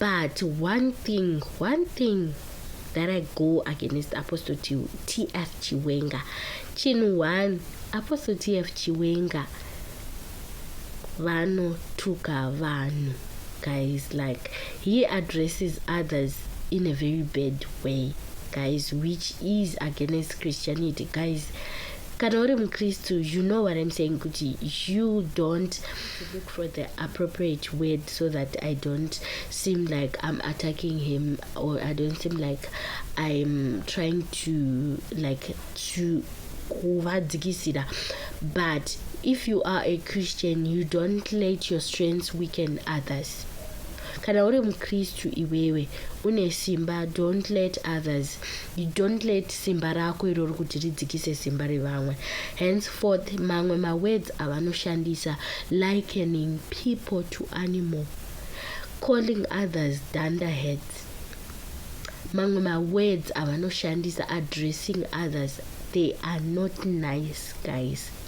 but one thing one thing that i go against apostle tf chiwenga chinhu one apostle tf chiwenga vanotuka vanhu guys like he addresses others in a very bad way guys which is against christianity guys kana uri mukristu you know what i'm saying kuti you don't to look for the appropriate word so that I don't seem like I'm attacking him or I don't seem like I'm trying to like to kuvadzikisira but if you are a Christian you don't let your strengths weaken others kana uri mukristu iwewe une simba don't let others you don't let simba rako irori kuti ridzikise simba revamwe henceforth mamwe mawords avanoshandisa likening people to animal calling others dunder heads mamwe mawords avanoshandisa addressing others they are not nice guys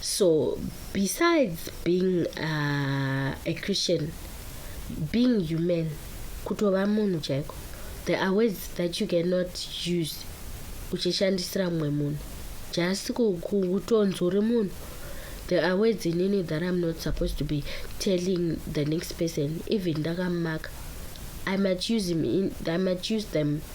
So besides being uh, a Christian, being human, kutova munhu chaiko, there are words that you cannot use uchishandisira mumwe munhu just kutonzori munhu there are words inini that i'm not supposed to be telling the next person even ndakamaka i might use, him in, I might use them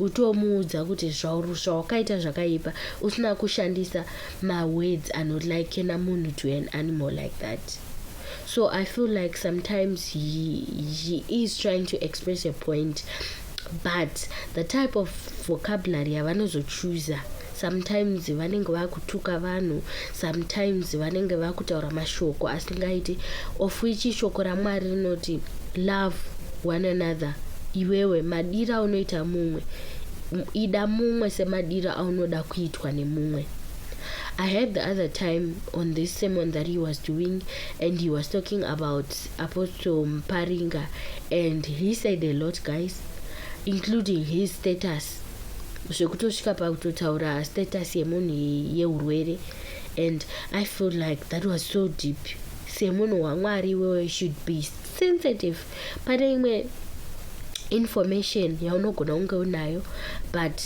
utomuudza kuti zvawakaita zvakaipa usina kushandisa mawords anolikena munhu to an animal like that so i feel like sometimes he, he is trying to express a point but the type of vocabulary yavanozochuza sometimes vanenge vakutuka vanhu sometimes vanenge vakutaura mashoko asingaiti of which shoko ramwari rinoti love one another iwewe madira unoita mumwe ida mumwe semadira aunoda kuitwa nemumwe I had the other time on this sermon that he was doing, and he was talking about Apostle Mparinga, and he said a lot, guys, including his status zvekutosvika pakutotaura status yemunhu yeurwere and i feel like that was so deep semunhu wamwari iwewe should be sensitive pane imwe information yaunogona kunge unayo but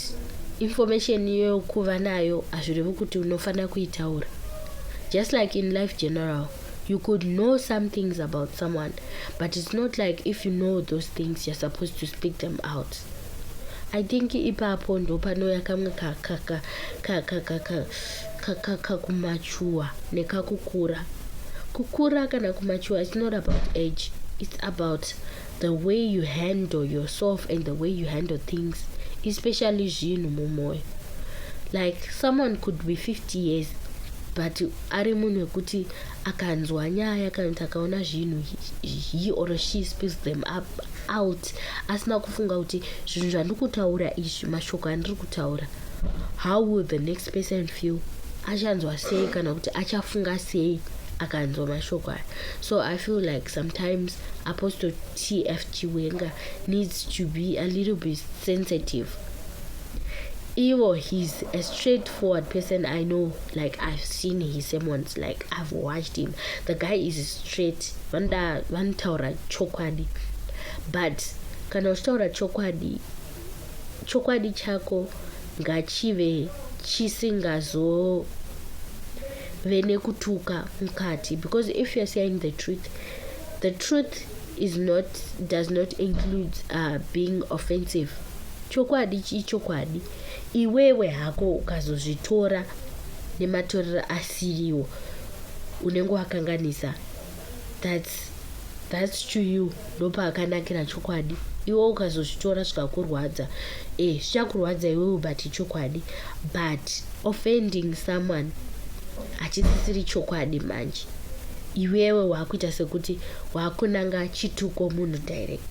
information yokuva nayo hazvirevi kuti unofanira kuitaura just like in life general you could know some things about someone but it's not like if you know those things you're supposed to speak them out I think ipapo ndopanouya kamwe kakumachuwa nekakukura. Kukura kana kumachuwa it's not about age. It's about the way you handle yourself and the way you handle things, especially zvinhu mumoyo. Like someone could be 50 years but ari munhu wekuti akanzwa nyaya kana kuti akaona zvinhu he or she spills them up out past asina kufunga kuti zvinhu zvandikutaura izvi mashoko andiri kutaura how will the next person feel achanzwa sei kana kuti achafunga sei akanzwa mashoko aya so i feel like sometimes apostle tf chiwenga needs to be a little bit sensitive Ivo he's a straight forward person I know like I've seen his sermons like I've watched him the guy is straight vanoda vanotaura chokwadi but kana uchitaura chokwadi chokwadi chako ngachive chisingazove nekutuka mukati because if you're saying the truth the truth is not does not include uh, being offensive Chokwadi ichokwadi, iwewe hako ukazozvitora nematorero asiriwo unenge wakanganisa. That's, that's to you ndopaakanakira chokwadi. Iwe ukazozvitora zvikakurwadza, eh, zvichakurwadza iwewe but ichokwadi. But offending someone hachisisiri chokwadi manje iwewe wakuita sekuti wakunanga chituko munhu direct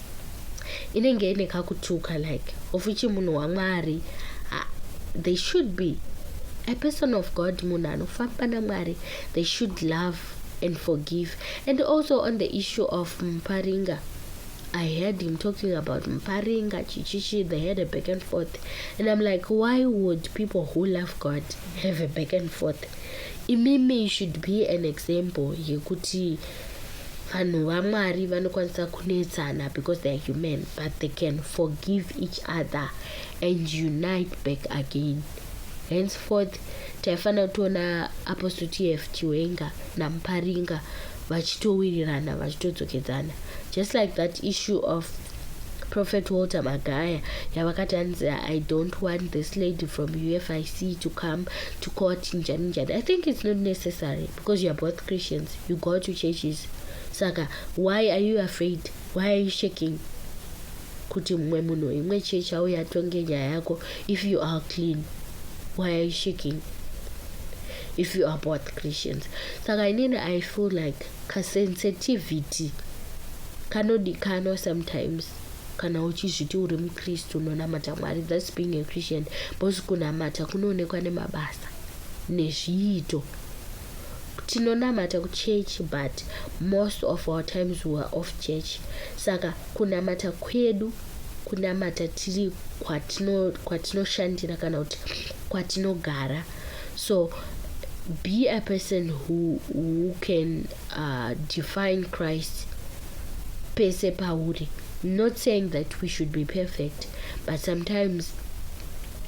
inenge ine kakutuka like of ichi munhu wamwari uh, they should be a person of god munhu anofamba namwari they should love and forgive and also on the issue of mparinga I heard him talking about Mparinga, Chichichi, they had a back and forth. And I'm like, why would people who love God have a back and forth? imimi should be an example yekuti vanhu vamwari vanokwanisa kunetsana because theyare human but they can forgive each other and unite back again henceforth taifanira kutiona apostle tf chiwenga namuparinga vachitowirirana vachitodzokedzana just like that issue of prophet walter magaya yavakati hanzi i don't want this lady from ufic to come to court njani njani i think it's not necessary Because you are both Christians, you go to churches. Saka, why are you afraid? Why are you shaking? Kuti mwe muno imwe church au yatonge nyaya yako if you are clean. Why are you shaking? If you are both Christians. Saka inini I feel like ka sensitivity kanodikano sometimes kana uchizviti uri mukristu unonamata mwari thats being a christian bcause kunamata kunoonekwa nemabasa nezviito tinonamata kuchurch but most of our times we are off church saka kunamata kwedu kunamata tiri kwatinoshandira kana kuti kwatinogara so be a person who, who can uh, define christ pese pauri not saying that we should be perfect but sometimes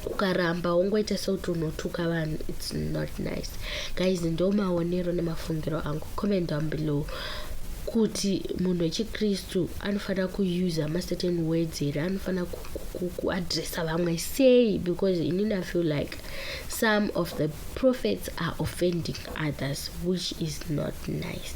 ukaramba wongoita sekuti unotuka vanhu its not nice guys ndo maonero nemafungiro angu comment down below kuti munhu wechikristu anofanira kuusa macertain words here anofanira kuadressa vamwe sei because inini i feel like some of the prophets are offending others which is not nice